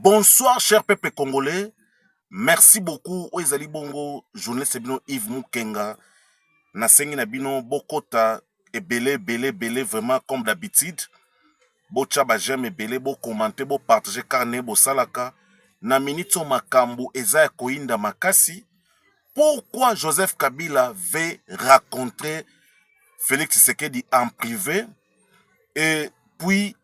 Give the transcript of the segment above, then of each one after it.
Bonsoir cher peuple congolais. Merci beaucoup oyo ezali bongo journaliste bino Yves Mukenga. Nasengi na bino bokota ebele ebele ebele vraiment comme d'habitude. Botia ba j'aime ebele bo commenter bo partager car ne bosalaka na minute oyo makambo eza ya koyinda makasi. Pourquoi Joseph Kabila veut rencontrer Félix Tshisekedi en privé et puis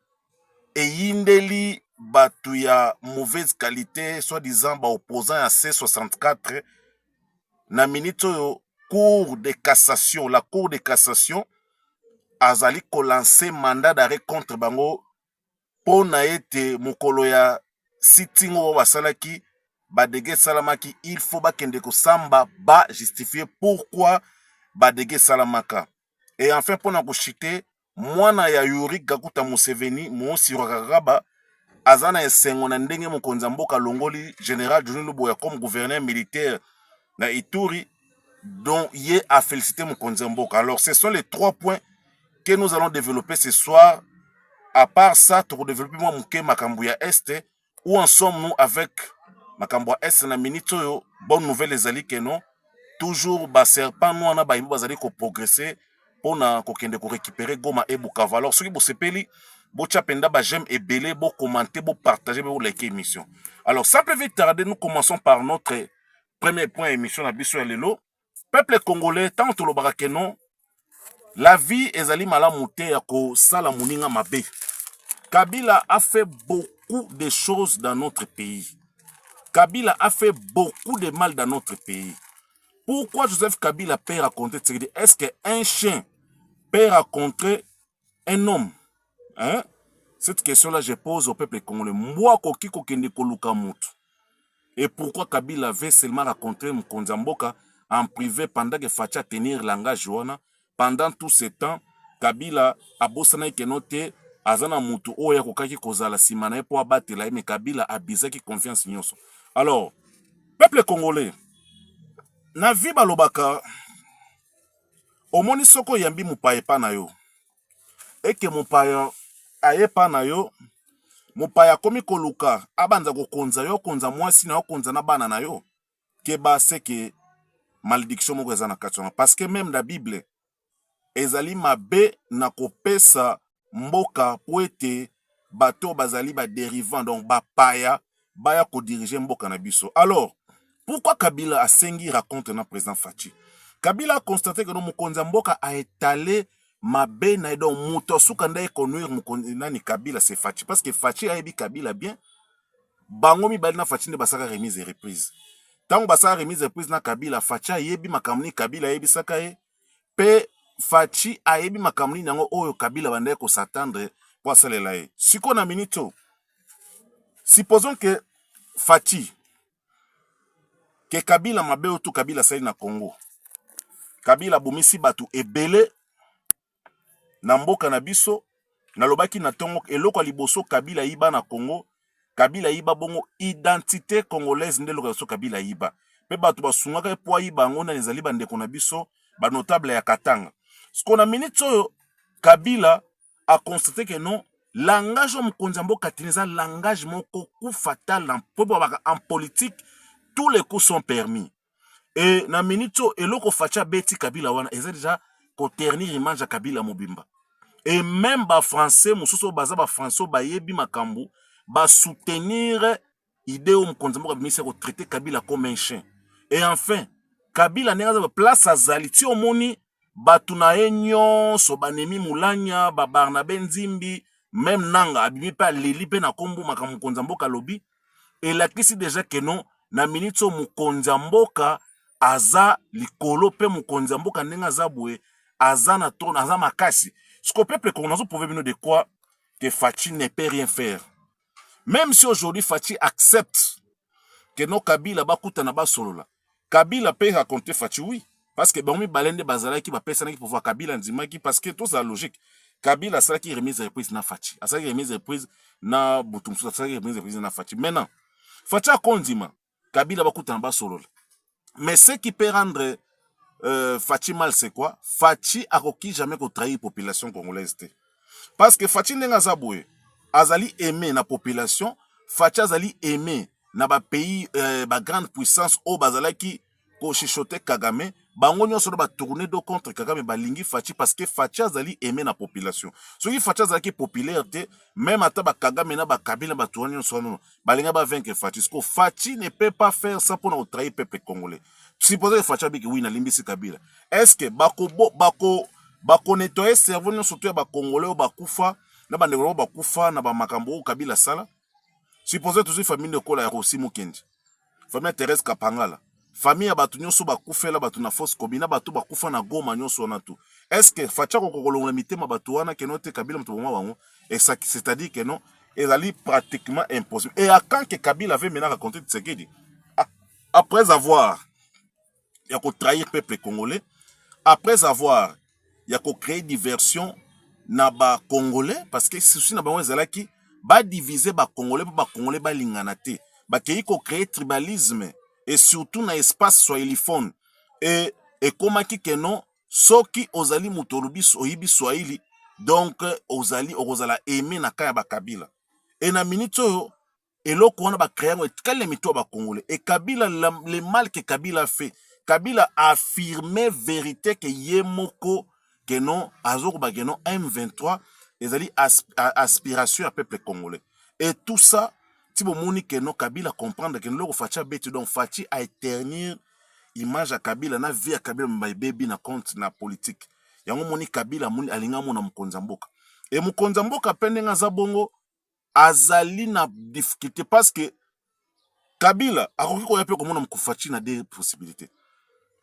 eyindeli batu ya mauvaise qualite soit disant ba opposants ya C64 na minutes oyo cour de cassation la cour de cassation azali ko lancer mandat d'arrêt contre bango mpo na ete mokolo ya sitting oyo basalaki badege esalamaki il faut bakende kosamba ba justifier pourquoi badege esalamaka et enfin mpo na kochite mwana ya Yuri Kaguta Museveni Muhoozi Kainerugaba aza na esengo na ndenge mokonzi ya mboka alongoli General John Luboya comme gouverneur militaire na Ituri dont ye a félicité mokonzi ya mboka. Alors ce sont les trois points que nous allons développer ce soir. À part ça, tokodévelopper mwa moke makambo ya este où en sommes nous avec makambo ya est na minute oyo bonne nouvelle ezali que non toujours ba serpent noir na bayibo bazali ko progresser mpo na kokende ko récupérer goma et bukavu alors soki bosepeli botya mpenza ba j'aime ebele bo commenter bo partager mpe bolike émission alors sans plus vite tarder nous commençons par notre premier point ya émission na biso ya lelo peuple congolais ntango tolobaka ke non la vie ezali malamu te ya kosala moninga mabe kabila a fait beaucoup de choses dans notre pays kabila a fait beaucoup de mal dans notre pays pourquoi joseph kabila peut raconter tshisekedi est ce que un chien peut raconter un homme hein? cette question là je pose au peuple congolais mbwa akoki kokende koluka motu et pourquoi kabila avait seulement rencontré mokonzi ya mboka en privé pendant que facha tenir langage wana pendant tout ce temps kabila abosanaki keno te aza na motu oyo akokaki kozala nsima na ye mpo abatela ye me kabila abizaki confiance nyonso alors peuple congolais na vie balobaka omoni soki oyambi mopaya epa na yo eke mopaya aye pa na yo mopaya akomi koluka abanza kokonza yo okonza mwasi na yo okonza na bana na yo keba seke malediction moko eza na kati wana parce que meme na bible ezali mabe na kopesa mboka mpo ete bato oyo bazali ba derivant donc bapaya baya kodirige mboka na biso alors pourquoi kabila asengi raconte na président faci kabila aconstate keno mokonzi ya mboka aetale mabe na ye donc moto asuka nde ekonuire mokonzi nani kabila se faci parce que faci ayebi kabila bien bango mibali na faci nde basaka remise et reprise ntango basala remise reprise na kabila faci ayebi makambo nini kabila ayebisaka ye pe Fatshi ayebi makambo nini yango oyo Kabila abandaki ko s'attendre po asalela ye. Sikoyo na minute oyo supposons que Fatshi que Kabila mabe oyo tout Kabila asali na Congo, Kabila abomisi batu ebele na mboka na biso, nalobaki na tongo eloko ya liboso Kabila ayiba na Congo Kabila ayiba bongo identite congolaise nde eloko ya biso Kabila ayiba mpe bato basungaka ye mpo ayiba yango nani ezali bandeko na biso banotable ya Katanga sikoyo na minute oyo Kabila akonstate ke non langage oyo mokonzi ya mboka tini eza langage moko coup fatal mpo babaka en politique tous les coups sont permis Et na minute oyo eloko Fatshi abeti Kabila wana eza deja ko ternir image ya Kabila mobimba. Et même ba français mosusu baza ba français oyo bayebi makambo ba soutenir idee oyo mokonzi moko abimisi ya ko traiter Kabila comme un chien. Et enfin Kabila ndenge aza place azali ti omoni batu na ye nionso ba nemi mulanya ba barnabe nzimbi meme nanga abimi pe aleli pe na kombo makambo mokonzi ya mboka alobi elakisi deja que no na minutes oyo mokonzi ya mboka aza likolo pe mokonzi ya mboka ndenge aza boye aza na trone aza makasi siko peuple congolais nazo prouve bino de quoi que Fatshi ne peut rien faire meme si aujourd'hui Fatshi accepte que no Kabila bakutana basolola Kabila pe raconte Fatshi oui parce que bango mibale nde bazalaki bapesanaki pouvoir Kabila andimaki parce que tozala logique Kabila asalaki remise reprise na Fatshi asalaki remise reprise na butu mosusu asalaki remise reprise na Fatshi maintenant Fatshi akondima Kabila bakutana basolola mais ce qui peut rendre euh, Fatshi mal c'est quoi Fatshi akoki jamais kotrahir population congolaise te parce que Fatshi ndenge aza boye azali aime na population Fatshi azali aime na ba pays euh, ba grande puissance oyo bazalaki kochichote kagame bango nyonso na batourne do contre kagame balingi faci parce que faci azali aime na population soki faci azalaki populaire te meme ata bakagame na bakabila bato wana nyonso wana balinga bavaincre faci siko faci ne peut pas faire ça mpo na kotrahi peuple congolais supposé que faci abiki wi nalimbisi kabila est ce que bakonetoye bako, bako cerveau nyonso to ya bacongolais oyo bakufa na bandeko na bango bakufa na bamakambo oyo kabila asala supposons tozwi famille lokola ya Rosi Mukendi famille ya Therese Kapangala famille ya bato nyonso bakufela bato na fosse commune na bato bakufa na Goma nyonso wana tu est ce que Fatshi akoki kolongola mitema bato wana keno te Kabila moto boma bango c'est-à-dire que non ezali pratiquement impossible et à quand que Kabila avait maintenant raconté Tshisekedi ah, après avoir ya ko trahir peuple congolais après avoir ya ko créer diversion na ba congolais parce que souci na bango ezalaki ba diviser ba congolais mpo ba congolais balingana te bakei ko créer tribalisme et surtout na espace swahiliphone et ekomaki que non soki ozali moto olobi oyibi swahili donc ozali okozala aime na ka ya bakabila e na minute oyo eloko wana ba créer yango etikali na mitu ya ba congolais et kabila la, le mal que kabila fait kabila a affirme verite que ye moko que non azokoba que non m23 ezali as, aspiration ya peuple congolais et tout ça ti bomoni que non kabila comprendre que loko faci abeti donc faci a éternir image ya kabila na vie ya kabila mba ebebi na compte na politique yango moni kabila moni alinga mona mokonzi ya mboka e mokonzi ya mboka mpe ndenge aza bongo azali na difficulté parce que Kabila akoki koya mpe komona Fatshi na deux possibilités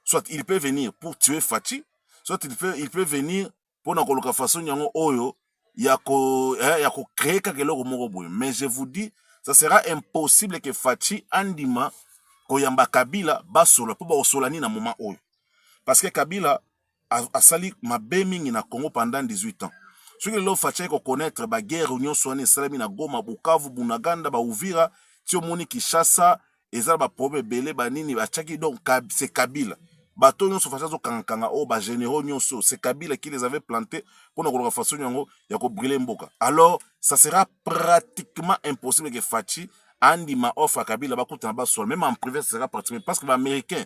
soit il peut venir pour tuer Fatshi soit il peut, il peut venir mpo na koluka façon yango oyo ya ko eh, ya ko créer kaka eloko moko boye mais je vous dis ça sera impossible que Fatshi andima koyamba Kabila basola mpo bakosola nini na moment oyo parce que Kabila asali mabe mingi na Congo pendant 18 ans soki lelo Fatshi ayeko connaître ba guerre nyonso wana esalami na Goma, Bukavu, Bunaganda, ba Uvira ti omoni Kinshasa eza ba problème ebele ba nini batiaki donc c'est Kabila bato nyonso Fatshi azokanga kanga oyo oh, ba généraux nyonso c'est Kabila qui les avait plantés mpona koloka façon yango ya ko brûler mboka alors ça sera pratiquement impossible que Fatshi andima offre ya Kabila bakutana basolo même en privé ça sera pratiquement parce que ba américains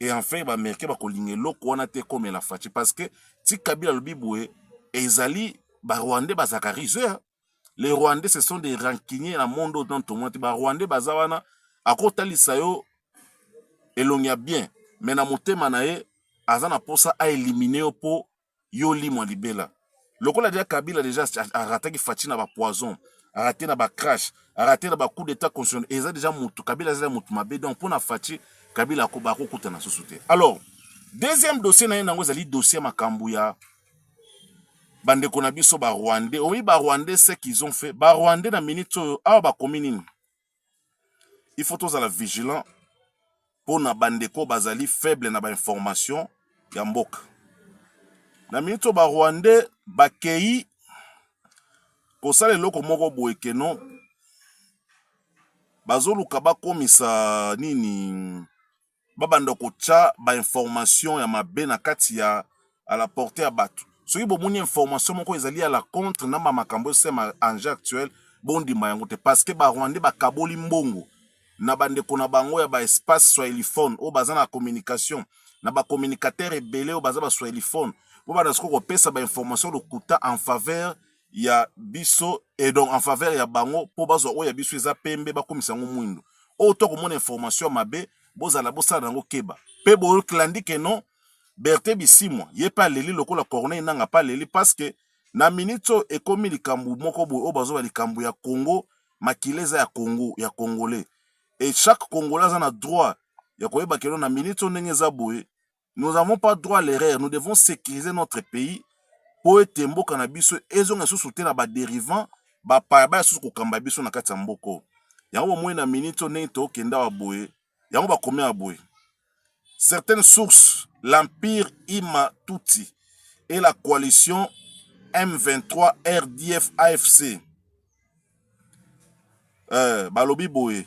et enfin ba americain bakolinga eloko wana te ekomela faci parce que ti kabila alobi boye ezali ba rwandais bazalaka ruseur hein. les rwandais ce sont des rancuniers na monde oyo tomona te ba rwandais baza wana akotalisa yo elongi ya bien me na motema na ye aza na mposa aelimine yo mpo yo limwa libela lokola deja kabila deja arataki faci na bapoison arate na bacrash arate na bacoup d'état constitutionnel eza deja motu kabila azala motu mabe donc mpo na faci kabila akoba akokutana susu te alors deuxième dossier na ye nango ezali dossier ya makambo ya bandeko na biso barwandais oyi barwandais ce qu'ils ont fait barwandais na minute oyo awa bakomi nini il faut tozala vigilant mpo na bandeko bazali faible na bainformation ya mboka na miniti oyo barwandais bakei kosala eloko moko boye keno bazoluka bakomisa nini babanda kotya ba information ya mabe na kati ya à la portee ya bato soki bomoni information moko ezali à la contre na ba makambo esema enjeu actuel bondima yango te parce que ba rwandais bakaboli mbongo na bandeko na bango ya ba espace swahiliphone oyo baza na communication na ba communicateur ebele oyo baza ba swahiliphone bo banda sikoyo kopesa ba information lokuta en faveur ya biso et donc en faveur ya bango mpo bazwa oyo ya biso eza pembe bakomisa yango mwindo oyo to komona information ya mabe bozala bosala na yango keba mpe boklandi ke non berte bisimwa ye mpe aleli lokola corneille nanga mpe aleli parce que na minute oyo ekomi likambo moko boye oyo bazoba likambo ya congo makila eza ya congo ya congolais et chaque congolais aza na droit ya koyeba keno na minute oyo ndenge eza boye nous n'avons pas droit à l'erreur nous devons sécuriser notre pays mpo ete mboka na biso ezonga lisusu te na baderivant bapaya baya susu kokamba biso na kati ya mboka oyo yango bomoi na miniti oyo ndenge tokenda wa boye yango bakomi ya boye certaines sources l'empire ima tutsi et la coalition m23 rdf afc euh, balobi boye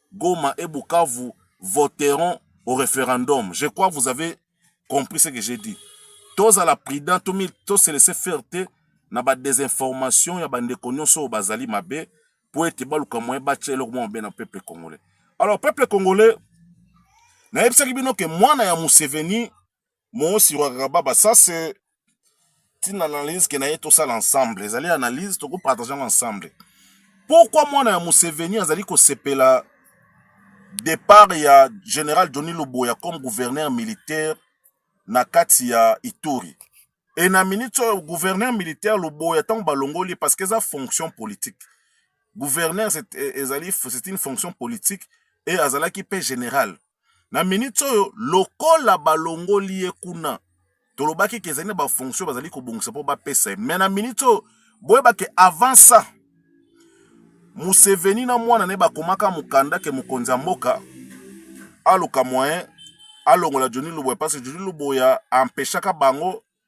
Goma et Bukavu voteront au referendum. Je crois vous avez compris ce que j'ai dit. Tozala prudent, to se laisser faire te na ba desinformation ya bandeko nyonso oyo bazali mabe mpo ete baluka moyen batya eloko mwa mabe na peuple congolais. Alors peuple congolais, nayebisaki bino ke mwana ya Museveni Mosi Ruakababa, ça c'est une analyse que naye tosala ensemble. Ezali analyse toko partager ensemble. Pourquoi mwana ya Museveni azali kosepela départ ya général Johnny Luboya comme gouverneur militaire na kati ya Ituri? Et na minute oyo gouverneur militaire Luboya ntango balongoli parce que eza fonction politique. Gouverneur ezali c'est une fonction politique et azalaki mpe général. na minute oyo lokola balongoli ye kuna tolobaki ke ezali na bafonction bazali kobongisa mpo bapesa ye me na minute oyo boyeba ke avant ça museveni na mwana ne bakomaka mokanda ke mokonzi ya mboka aluka moyen alongola joni luboya parce joni luboya empeshaka bango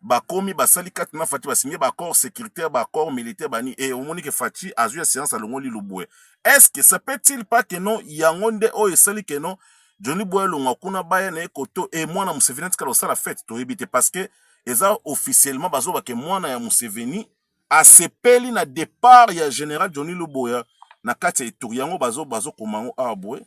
bakomi basali kati na Fatshi basinye ba accord sécuritaire ba accord militaire bani et omoni que Fatshi azwi assurance alongoli Lubwe est-ce que ça peut-il pas que non yango nde oyo esali que non Johnny Boy alongwa kuna baya na ye koto e mwana Museveni atikala kosala fete toyebi te parce que eza officiellement bazoba ke mwana ya Museveni asepeli na départ ya général Johnny Luboya na kati ya eturi yango bazo bazo komango awa boye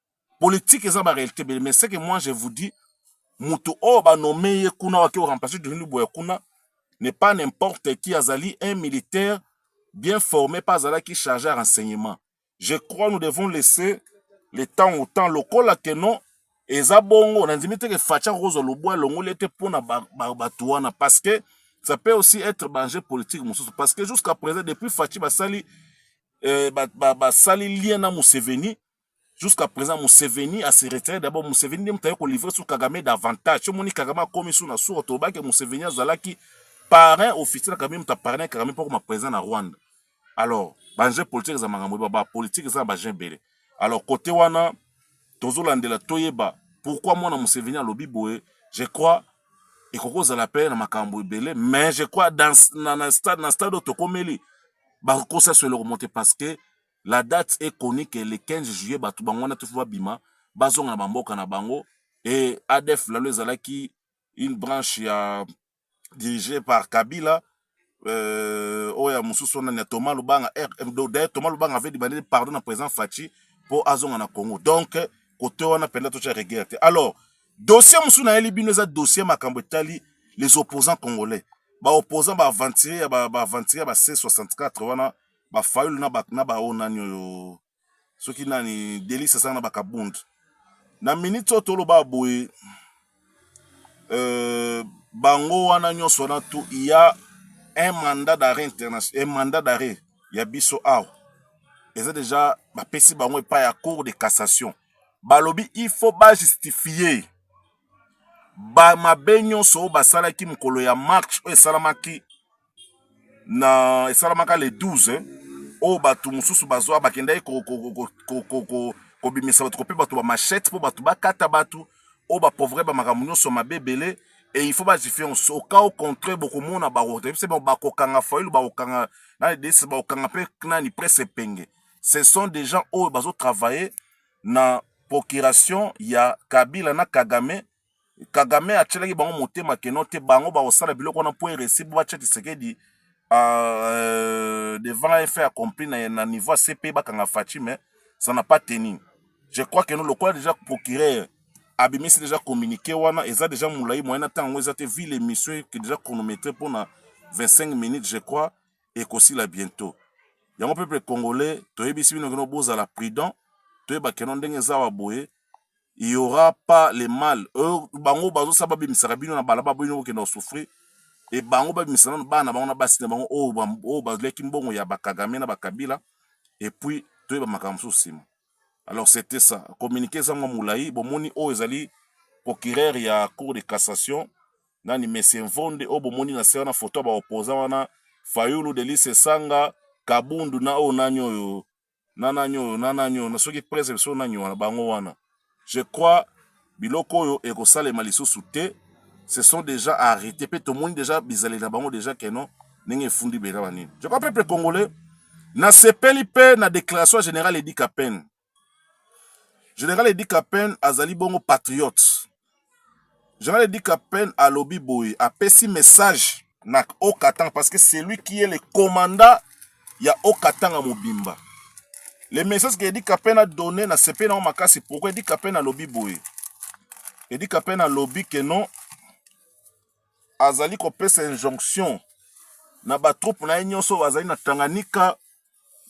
politique eza ba réalité bele mais ce que moi je vous dis mutu oyo ba nomme ye kuna waki o remplacer Denis Luboya kuna n'est pas n'importe qui azali un militaire bien formé pas azalaki chargé à renseignement je crois nous devons laisser le temps au temps lokola que non eza bongo na ndimi te ke Fatshi akozwa lobwa elongoli ete mpo na bato ba, ba, wana parce que ça peut aussi être banger politique mosusu parce que jusqu'à présent depuis Fatshi basali eh, basali ba, ba lien na Museveni Jusqu'à présent Museveni a se retirer d'abord Museveni nde mutu aye ko livrer sur Kagame davantage. Soki omoni Kagame akomi sur na suka toloba ke Museveni azalaki parrain officiel na Kagame mutu a parrainer Kagame mpo akoma président na Rwanda. Alors ba enjeux politique eza makambo ebele ba politique eza na ba enjeux ebele. Alors kote wana tozolandela toyeba pourquoi mwana Museveni alobi boye je crois ekoki kozala mpe na makambo ebele mais je crois dans, na, na stade, na stade oyo tokomeli bakokosa so eloko mote parce que la date est connue que le 15 juillet batu bango wana tout faut babima bazonga na bamboka na bango et ADF lalo ezalaki une branche ya dirigée par Kabila euh, oyo ya mosusu wana ya Thomas Lubanga eh, eh, d'ailleurs Thomas Lubanga avait demandé pardon na président Fatshi mpo azonga na Congo donc kote wana mpenza totya regere te alors dossier mosusu nayeli bino eza dossier makambo etali les opposants congolais baopposant baaventurier ya baaventurier ya ba c64 wana ba fayulu na ba na ba onani oyo soki nani delisa sanga na bakabund na minute oyo toloba boye euh, bango wana nyonso wana tu ya un mandat d'arrêt international un mandat d'arrêt ya biso awa eza deja bapesi bango epai ya cour de cassation balobi il faut bajustifie bamabe nyonso oyo basalaki mokolo ya marche oyo esalamaki na esalamaka le 12 oyo bato mosusu bazwa bakendaki kobimisa bato kope bato bamachete mpo bato bakata bato oyo bapauvre bamakambo nyonso mabe ebele e il faut badifiance oka au contraire bokomona bakotebise bakokanga failu bakokanga na ledese bakokanga mpe nani presse epenge ce sont des gens oyo bazotravaille na procuration ya kabila na kagame kagame atyelaki bango motema keno te bango bakosala biloko wana mpo eresi mpo batya tisekedi euh, devant un fait accompli na, na niveau ya cp bakanga faci mais ça n'a pas tenu je crois que no lokola déjà procureur abimisi déjà communiqué wana eza déjà molai moyen na ntango yango eza te vi l'émission eke déjà chronométré mpona 25 minutes je crois ekosila bientôt yango peuple congolais toyebisi bino keno bozala prudent toyeba keno ndenge eza wa boye il aura pas le mal euh, bango bazosa babimisaka bino na balaba bino bokenda kosouffrir e bango babimisa nano bana na bango na basi na bango oyo oh, baliaki mbongo ya bakagame na bakabila epuis toyeba makambo mosusu nsima alors c'était ça communiqué eza mwa molai bomoni oyo ezali procureur ya cour de cassation nani monsieur mvonde oyo bomoni na se wana foto ya baoposa wana fayulu delise sanga kabundu na oyo nani oyo na nani oyo na nani oyo na soki presse biso nani wana bango wana je crois biloko oyo ekosalema lisusu te se sont déjà arrêtés mpe tomoni déjà bizaleli na bango déjà keno ndenge efundi bela banini je crois peuple congolais nasepeli mpe na déclaration ya général edi kapene général edi kapene azali bongo patriote General Edi Kapend alobi boye, apesi message na Haut-Katanga parce que c'est lui qui est le commandant ya Haut-Katanga mobimba. Le message que Edi Kapend a donné na sepeli na makasi pourquoi Edi Kapend alobi boye. Edi Kapend alobi que non azali kopesa injonction na ba troupes na ye nyonso bazali na Tanganyika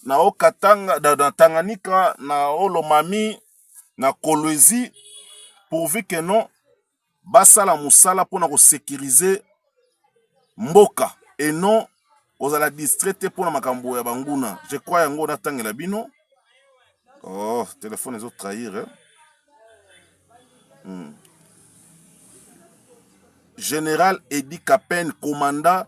na haut katanga na, na tanganyika na haut lomami na kolwezi pourvu que non basala mosala mpona kosekirize mboka et non kozala distrait te mpona makambo ya banguna je crois yango natangela bino oh telefone ezo trahir eh? hmm. général edi kapen commanda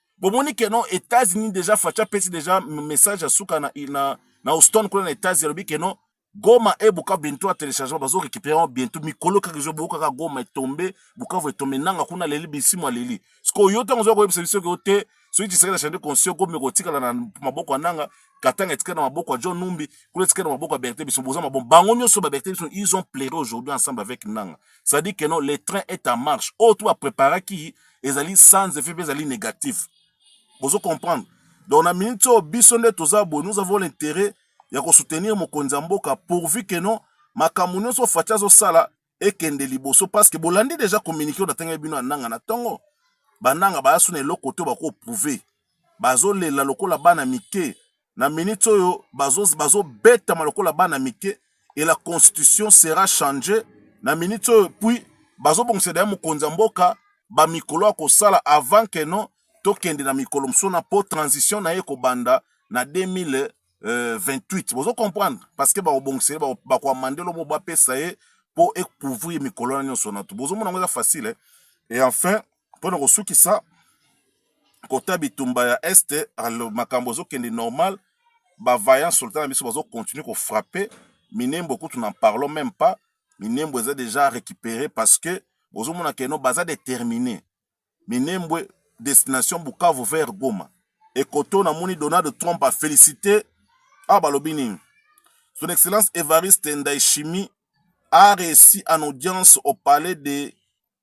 bomoni ke non Etats-Unis deja Fatshi apesi deja message ya suka na, na, na Houston kuna na Etats-Unis alobi ke non Goma et Bukavu bientôt à téléchargement bazo récupérer bientôt mikolo kaka ezo boka kaka Goma etombe Bukavu etombe nanga kuna leli bisimu aleli sikoyo yo ntango oza koyebisa biso ke yo te soki tshisekedi achande conscient gomi ekotikala na maboko ya nanga katanga etikali na maboko ya john numbi kuna etikali na maboko ya berthe biso boza mabon bango nyonso baberthe biso ils ont plaire aujourd'hui ensemble avec nanga c'est-à-dire que non le train est en marche oyo oh, to bapreparaki ezali sans effet mpe ezali négatif bozo comprendre donc na minute oyo biso nde toza boye nous avons l'intérêt ya kosoutenir mokonzi ya mboka pourvu que non makambo nyonso faci azosala ekende liboso parce que bolandi déjà communiqué oyo natangaki bino ananga na ntongo bananga baya suna eloko te bakoprouve bazolela lokola bana mike na minute oyo bazobetama lokola bana mike et la constitution sera changee na minute oyo puis bazobongisa deja mokonzi ya mboka bamikolo ya kosala avant que non tokende na mikolo mosusu na po transition na ye ekobanda na 2000 Euh, 28 bozo comprendre parce que bakobongisa ye bakoamande lobo bapesa ye mpo ekouvrir mikolo na nyonso na to bozomona yango eza facile eh? et enfin mpo na kosukisa kota bitumba ya est makambo ezokende normal bavaillant soldat na biso bazokontinue kofrappe minembo kutu na parlon meme pas minembo eza déjà récupéré parce que bozomona keno baza déterminé minembwe destination bukavu vers goma ekoto namoni donald trump afélicité awa balobi nini son excellence evariste ndaishimi a réussi en audience au palais de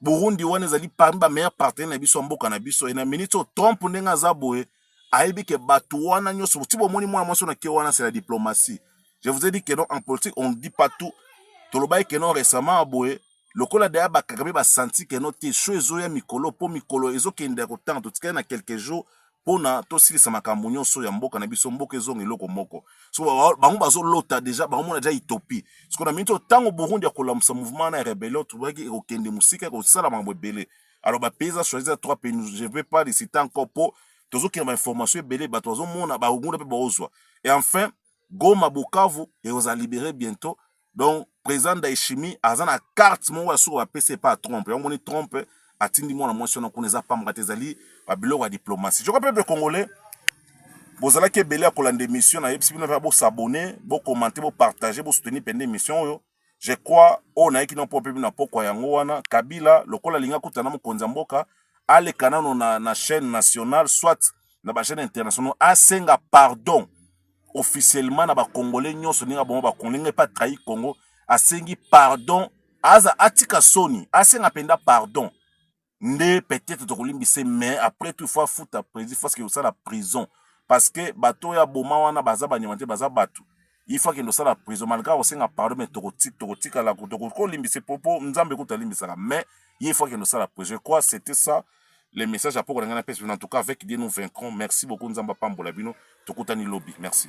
Burundi wana ezali parmi ba meilleurs partenaires na biso ya mboka na biso et na minute oyo Trump ndenge aza boye ayebi ke bato wana nyonso ti bomoni mwana mwasi na ke wana c'est la diplomatie je vous ai dit que non en politique on ne dit pas tout tolobaki que non récemment boye lokola deya bakaka mpe basanti que non te sho ezoya mikolo mpo mikolo ezokende ya kotanga totikali na quelques jours pona tosilisa makambo nyonso ya mboka na biso mboka ezonga eloko moko so bango bazolota deja bakomona deja etopie siko na miniti oyo ntango burundi akolamusa mouvement wana ya rebellion tobaki ekokende mosika ekosala makambo ebele alors bapays eza choisi ya trois pays je vais pas licite encore mpo tozokende bainformation ebele bato bazomona bakokunda mpe baozwa et enfin Goma, Bukavu ekozala libere bientot. Donc president Ndayishimiye aza na carte moko ya suka bapesi epa Trump. Yango moni Trump atindi mwana mwasi wana kuna eza pamba te ezali ba biloko ya diplomatie. Joko pepe congolais bozalaki ebele ya kolanda emission na yebisi bino mpe bo s'abonner, bo commenter, bo partager, bo soutenir pende emission oyo. je crois oyo nayeki na mpo mpe na pokwa yango wana kabila lokola alingi akuta na mokonzi ya mboka aleka nano na, na chaîne nationale soit na bachaîne internationaux asenga pardon officiellement na bacongolais nyonso ndenge abongo bakongo ndenge mpe atrahi congo asengi pardon aza atika soni asenga mpenza pardon nde peut-être tokolimbisa mais après tout faut afuta président parce que osala prison parce que bato oyo aboma wana baza banyama te baza bato ifo akende osala prison malgre akosenga pardon mais tokotikala tokolimbisa po po nzambe kutu alimbisaka mais ye ifo akende osala prison quoi c'était ça le message apoko na ngai na pesi en tout cas avec dieu nous vaincrons merci beaucoup nzambe apambola bino tokutani lobi merci